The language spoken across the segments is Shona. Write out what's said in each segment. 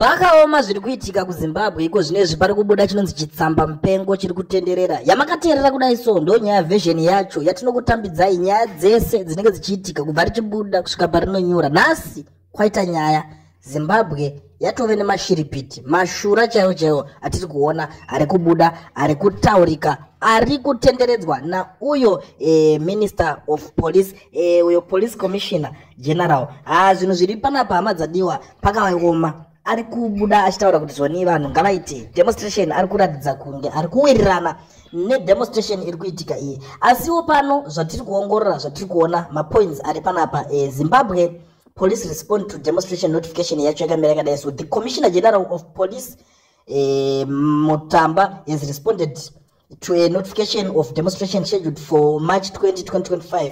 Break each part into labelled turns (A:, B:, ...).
A: Zvakaoma zviri kuitika kuZimbabwe iko zvinezvi pari kubuda chinonzi chitsamba mupengo chiri kutenderera. Yamakateerera kudai so ndo nyaya version yacho yatinokutambidzai nyaya dzese dzinenge dzichiitika kubva richibuda kusvika parinonyura. Nhasi kwaita nyaya Zimbabwe yatove nemashiripiti mashura chaiwo chaiwo atiri kuona ari kubuda ari kutaurika ari kutenderedzwa nauyo eh, minister of police eh, uyo police commissioner general haa zvinhu zviri panapa hama dzadiwa pakavaoma ari kubuda achitaura kuti zvonii vanhu ngavaite demonstration ari kuratidza kunge ari kuwirirana nedemonstration iri kuitika iyi asiwo pano zvatiri kuongorora zvatiri kuona mapoints ari panapa e, zimbabwe police respond to demonstration notification yacho yakamira yakadai so the commissioner general of police e, mutamba has responded to a notification of demonstration scheduled for march 20 2025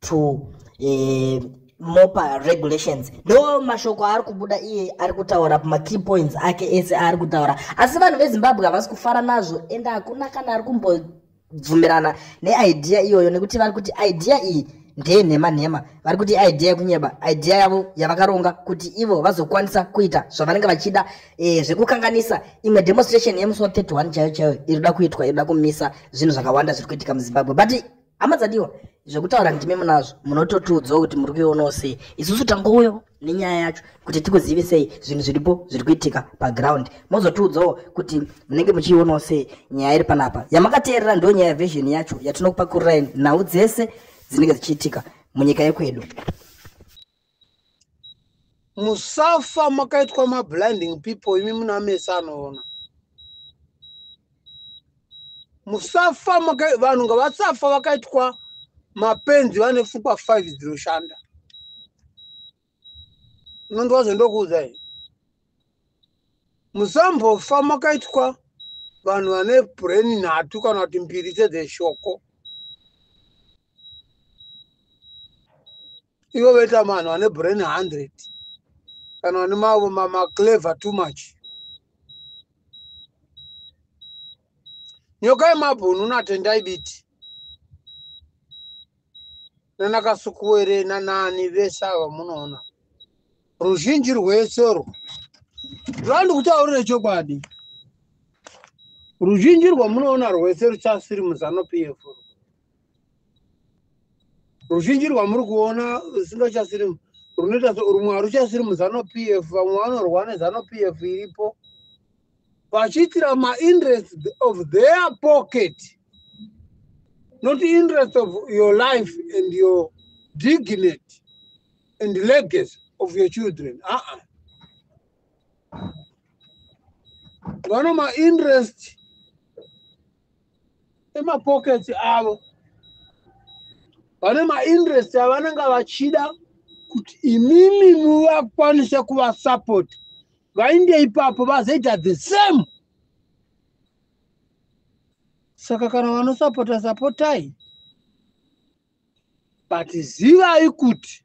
A: to uh, mopa regulations ndo mashoko aari kubuda iye ari kutaura makey points ake ese aari kutaura asi vanhu vezimbabwe havasi kufara nazvo ende hakuna kana ari kumbobvumirana neidea iyoyo nekuti vari kuti idea iyi ndeye nhema nhema vari kuti idea yekunyeba idea yavo yavakaronga kuti ivo vazokwanisa kuita zvavanenge vachida e, zvekukanganisa imwe demonstration yemusi wa 31 chaiyo chaiyo iri kuda kuitwa iri kuda kumisa zvinhu zvakawanda zviri kuitika muzimbabwe but hama dzadiwa zvekutaura ndimi munazvo munototiudzawo kuti muri kuionawo sei isusu tangouyawo nenyaya yacho kuti tikuzive sei zvinhu zviripo zviri kuitika paground mozotiudzawo kuti munenge muchiionawo sei nyaya iri panapa yamakateerera ndo nyaya version yacho yatinokupakururai nhau dzese dzinenge dzichiitika munyika yekwedu
B: musafa makaitwa mablinding people imi muna mese anoona musafa vanhu ngavasafa vakaitwa mapenzi vane pfungwa five dzinoshanda unondiwa zvendokuudzai musambofa makaitwa vanhu vane brain nhatu kana kuti mbiri sedzeshoko ivo vaita vanhu vane brain 100 kana vane mavo mamaclever too much nyoka yemabhunu natendai biti nanakasukuwere nanani vese ava munoona ruzhinji rwese urwo rwandi kutaurire chokwadi ruzhinji rwamunoona rwese ruchasiri muzanupf ruzhinji rwamuri kuona singachasiri runoita rumwe haruchasiri muzano p f vamwe vanorwa nezano p f iripo vachiitira mainterest of their pocket not interest of your life and your dignity and legacy of your children aa uh -uh. vano mainterest emapockets avo vane mainterest avanenge vachida kuti imimi muvakwanise kuvasupport vainde ipapo vazoita the same saka kana vanosapota sapotai but zivai kuti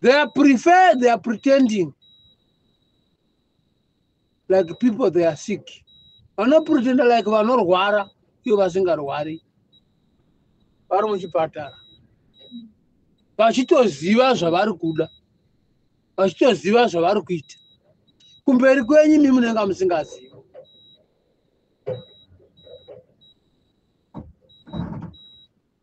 B: They are prefer, they are pretending like people they are sick. Vanopretenda like vanorwara ivo vasingarwari vari muchipatara vachitoziva zvavari kuda vachitoziva zvavari kuita kumberi kwenyu imi munenge musingazivi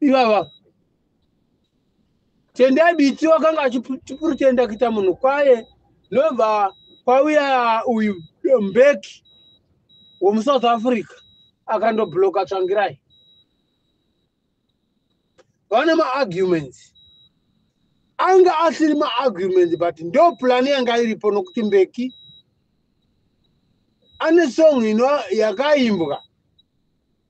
B: ivava tendai biti wakanga achipurutenda kuita munhu kwaye ndobva kwauya uyu mbeki wemusouth africa akandobloka tsvangirai vane maarguments anga asiri maarguments but ndo plan yanga iripo nokuti mbeki ane song ino yakaimbwa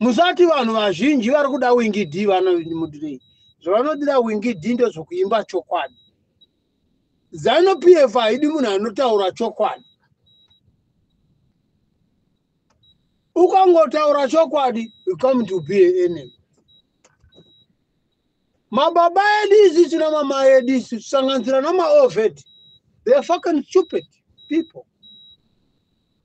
B: musati vanhu vazhinji vari kuda wingi d vanomudirei zvavanodira wingi d ndozvokuimba chokwadi zanu p f haidi munhu anotaura chokwadi ukangotaura chokwadi you come to be a enemy mababa edu isu sina mama edu isu sanganisira namaovet they are fucking stupid people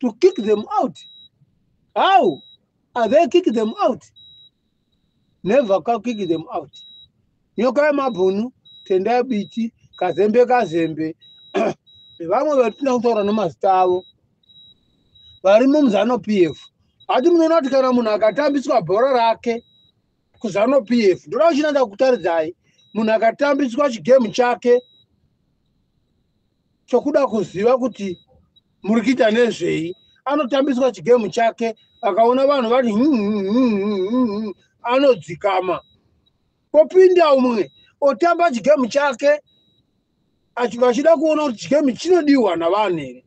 B: to kick them out how are they kick them out never ka kick them out nyoka yemabhunu tendai biti kazembe kazembe vamwe vatina kutaura nemazita avo vari mumuzano p f hati munoona kuti kana munhu akatambiswa bhora rake kuzano p f ndoda kuchinanda kutaridzai munhu akatambiswa chigemu chake chokuda kuziva kuti muri kuita nezvei anotambiswa chigemu chake akaona vanhu vati hmm, hmm, hmm, anodzikama kopinda umwe otamba chigemu chake vachida kuona kuti chigemu chinodiwa navanhu here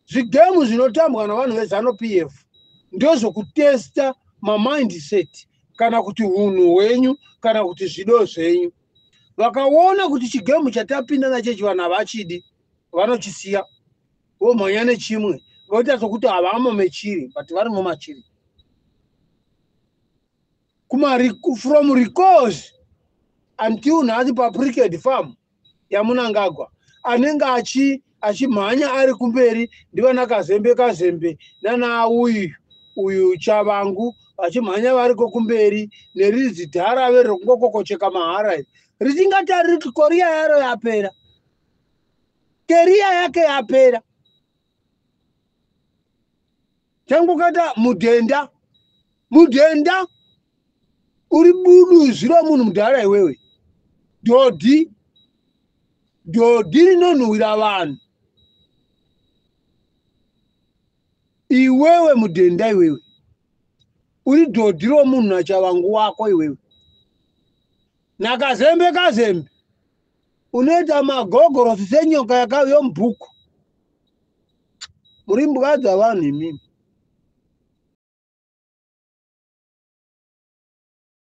B: zvigemu zvinotambwa navanhu vezanu p f ndozvokutesta mamindset kana kuti unhu hwenyu kana kuti zvido zvenyu vakaona kuti chigemu chatapinda nacho ichi vanhu havachidi vanochisiya vomhanya nechimwe voita sokuti havamo mechiri but varimo machiri kuma from recourse until nhasi papricked farm yamunangagwa anenge achi achimhanya ari kumberi ndivana kazembe kazembe nana uyu uyu chavangu vachimhanya variko kumberi nerizi dhara ave rekungokokocheka mahara iri richingatariri kuti koriya yaro yapera keriya yake yapera tangu kata mudhenda mudhenda uri budu zviro munhu mudhara iwewe dhodhi dhodhi rinonhuwira vanhu iwewe mudhenda iwewe uri dhodhi romunhu nachavangu wako iwewe nakazembe kazembe unoita magogorosi senyoka yakauyo mubhuku muri mbwa dzavanhu imimi